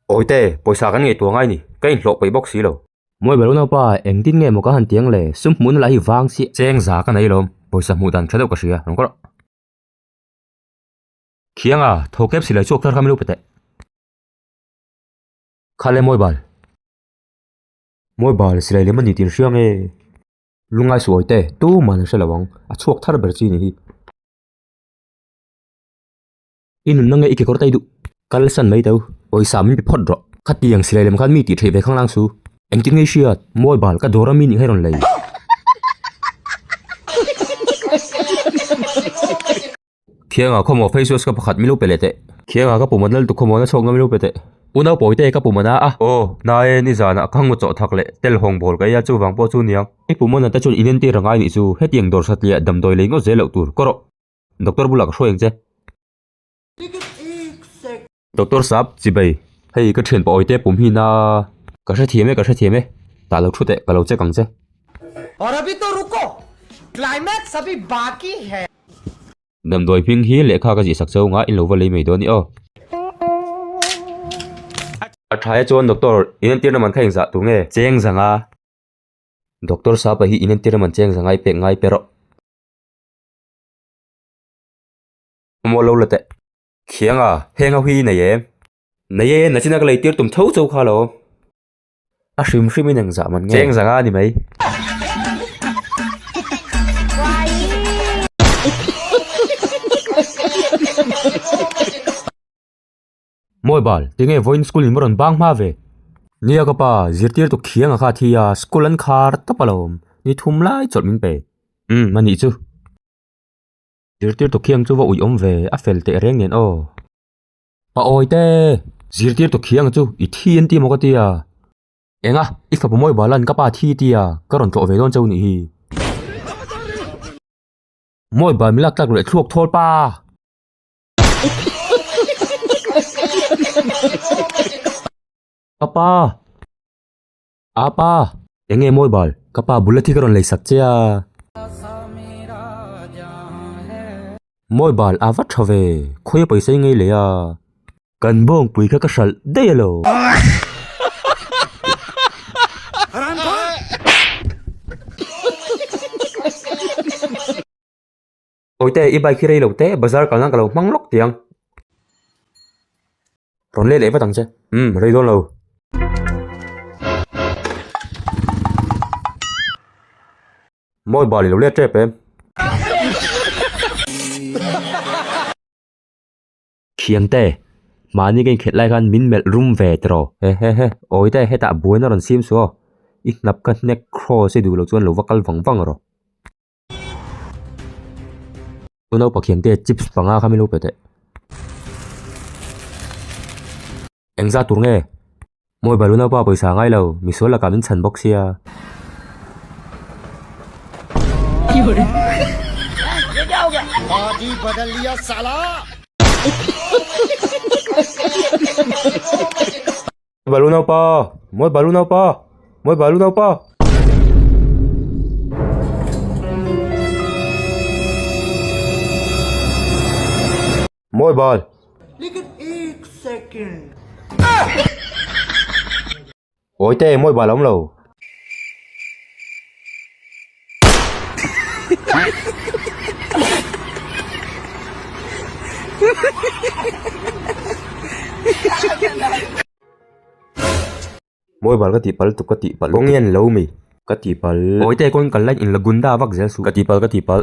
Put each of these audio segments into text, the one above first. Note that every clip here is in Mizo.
Awite, pawisa kan ngaihtuah ngai ni, ka inhlawh paih bawk si lo. Mawi belo naupa, engtin nge maw ka han tiang le, sum hmuhna lah hi vang si. Cheng za ka nei lawm, pawisa hmuh dan ṭha deuh ka hria, reng kawrh. Khianga, tho kep silai chu a kher kha milu pete. Kha le Mawibal. Mawibal, silai lem a ni tih an hria nge. Lungai suh Awite, tumah an hre lo ang, a chhuak thar ber chi a ni hi. I nunna nge i kekawr ta i duh. Kalsan mai teu, pawisa min pe phawt rawh. Khatiang silai lem khan mi tih theih ve khang lang su. Engtin nge i hriat? Mobile ka dawr a mi nih nge rawn lei? Khianga khawmaw face wash ka pakhat min lo pe leh teh. Khianga ka puhmawh nal tu khawmaw na chhawkna min lo pe teh. U Naupawi te ka puhmawh na a. Aw, nae ni zanah ka ngaw chawh thak leh tel hawng bawl ka ei a chuvang pawh chu niang. I puhmawh na te chuan i nentir a ngai nih chu, hetiang dawr satliah damdawi lei ngawt zel loh tur, kawrawh. Doctor bulah ka hru eng che. Doctor sap, Chibai, hei ka thian pawi te pumhin a. Ka hrethiam e, ka hrethiam e, tah lo thu teh, ka lo check ang che. Aur abhi to ruko, climax abhi baki hai. Damdawi hming hi lehkha ka zihsak che anga in lo va lei mai dawn ni aw. A tha e chuan Doctor, in entirna man kha engzah tur nge? Cheng zang a. Doctor sapa hi in entirna man cheng zang a, i pek ngai pe rawh. Maw lo la teh. Khiang a, heng ho hi nei em? Nei e, nachina ka lei tir tum tho chau kha lo. A hrim hrim in eng zah man nge. Cheng zang a ni mai. Mawi bal, tinge vawiin school in va rawn bang hma ve? Nia ka pa, zirtir tuk khianga kha thi a, school an khar tap a lawm, ni thum lai chawlh min pe. Umm, anih chu. Zirtir tuk khiang chu va ui awm ve, a fel teh reng nen aw. Pa awi te! Zirtir tuk khianga chu i thi an ti maw ka ti a. Enga, i fapa mawi balan ka pa thi ti a, ka rawn tlawh ve dawn che u nih hi. Mawi bal min lak tlak leh thluak thawl pa! Ka pa! Aa pa! Eng nge mawi bal? Ka pa bula thi ka rawn lei sak che a. Mawi bal aa va tha ve. Khawi a paisa i ngei leh a. Kan bawngpui kha ka hralh daih a lo. Awite i bike hi rei lo te bazar kalna ka lo hmang lawk tiang rawn let leh vat ang che umm rei dawn lo mawi bal i lo let tep em Thiante mahni ka inkhelh lai khan min melh rum ve tiraw he he he awite hetah buaina rawn sim suh aw i hnap ka hnek cross i duh loh chuan lo va kal vang vang araw. Tuna lo pathian te chips panga kha milo pe teh. Eng za tur nge? Mawi balu nau pa pawisa ngai lo, misual laka min chhan bawk sia. Balu naupa! Mawi balu naupa! Mawi balu naupa! Mawi bal! Awite mawi bal a awm lo. Mawi bal ka tih pal tuk ka tih pal kawng nge ni lo mai ka tih pal Awi te kawn kal like in la gun da vak zel suh ka tih pal ka tih pal.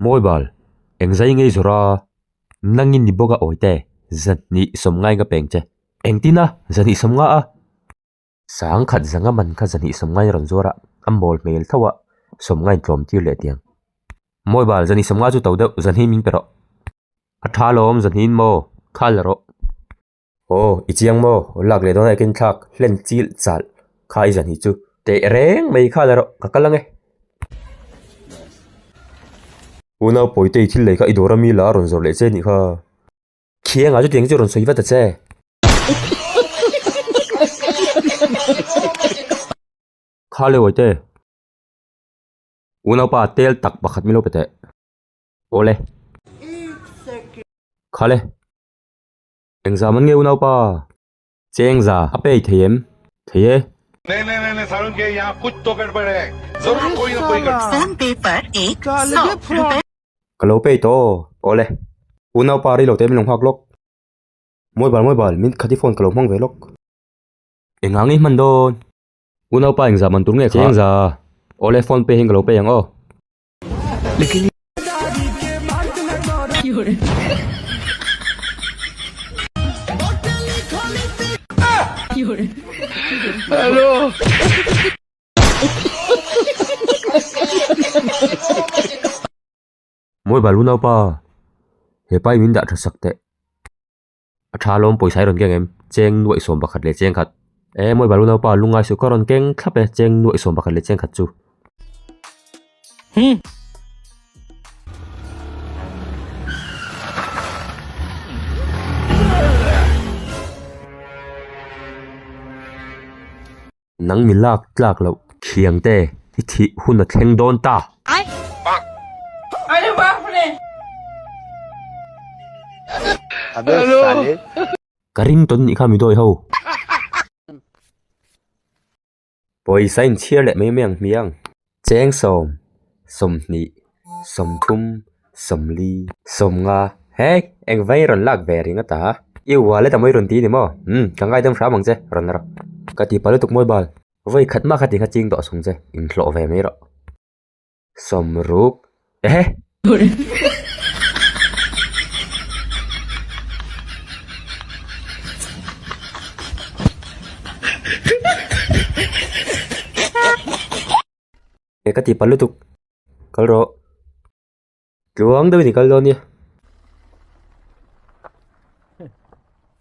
Mawi bal, eng zai ngei zawrh a, na ngi ni bawk a awite, zahnih sawm ngai ka peng che. Engtin a, zahnih sawm ngah a. Sang khat zanga man kha zahnih sawm ngai rawn zuar a, a mawl hmel thauh a, sawm ngain tlawm tir leh tiang. Mawi bal, zahnih sawm ngah chu to deuh, zahni ming pe rawh. A tha lawm, zahniin maw, khal rawh. Aw i chiang maw, aw lak leh dawn a i keng thlak hlen chil chal kha i za hnih chu. Teh reng mai khan erawh ka kal ang e. U Naupawitu i thil lei kha i dawr ami la a rawn zawrh leh che nih kha. Khianga chu tiang chu rawn sawi vat a che. Kha le Wawite. U Naupa tel tak pakhat mi lo pe teh. Aw le. Kha le. Engzam an ngeu naupa. Chengza a pei thei em? Thei e. Ka lo pei tawh. Awle. U naupa rilo te min lo nghak lawk. Mobile mobile min khati phone ka lo hmang ve lawk. Engang i hman dawn. U naupa engzam an tur nge kha. Chengza. Awle phone pei hi ka lo pei ang aw. Mawi balu naupa, he pai min dah tha sak teh. A tha lawm pawisa hi rawn keng em? Cheng nuaih sawm pakhat leh cheng khat. Ee mawi balu naupa a lungai suh kha rawn keng thlap e, cheng nuaih sawm pakhat leh cheng khat chu. Nang mi lak tlak loh thiang te i thih hun a thleng dawn ta. Ka ring tawn nih kha mi dawi ho. Pawisa in chhiar leh mai mai ang hmiang. Chengsawm, sawmhnih, sawmthum, sawmli. Sawmnga, Hei, eng vei rawn lak ve ring a ta. I ual e Tamawi rawn ti ni maw? Umm, ka ngaidam hram ang che, rawn la rawh. Ka tihpah lutuk mawi bal. Vawi khat mahkha ti kha ching tawh a sung che, inhlawh ve mai rawh. Sawmruk, Ehe! E ka ti pa lutuk. Kal rawh. Tluang deuh i ni kal dawn nia.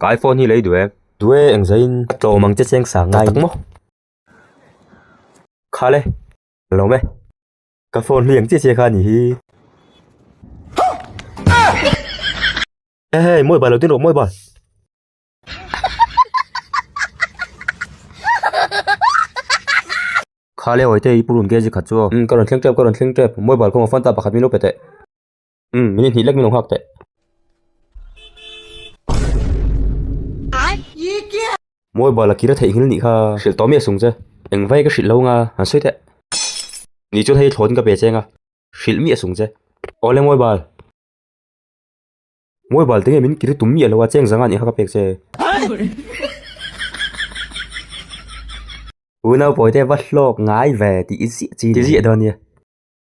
Ka iPhone hi lei duh e. Duh e eng zai in. A tlawm ang che cheng sang ngai ang maw. Khal e. Lawm e. Ka phone hliang chiah chiah kha a ni hi. Ehe mawi bal lo tin rawh mawi bal. Khal e awite i purun ke zikhat chu aw. Ka rawn thleng tep ka rawn thleng tep. Mawi bal kawng a phone ta pakhat min lo pe teh. um min inhnih lek min lo nghak teh mobile a kira theih nghil nih kha hrilh tawh miah sung che engvai ka hrilh lo nga han sawi teh ni chuan hei thlawtin ka pe cheng a hrilh miah sung che awle mobile mobile te nge min kir tum miah lo a cheng zanga nih kha ka pek che u naupawite va hlawk ngai ve tih i ziah chin tih ziah dawn nia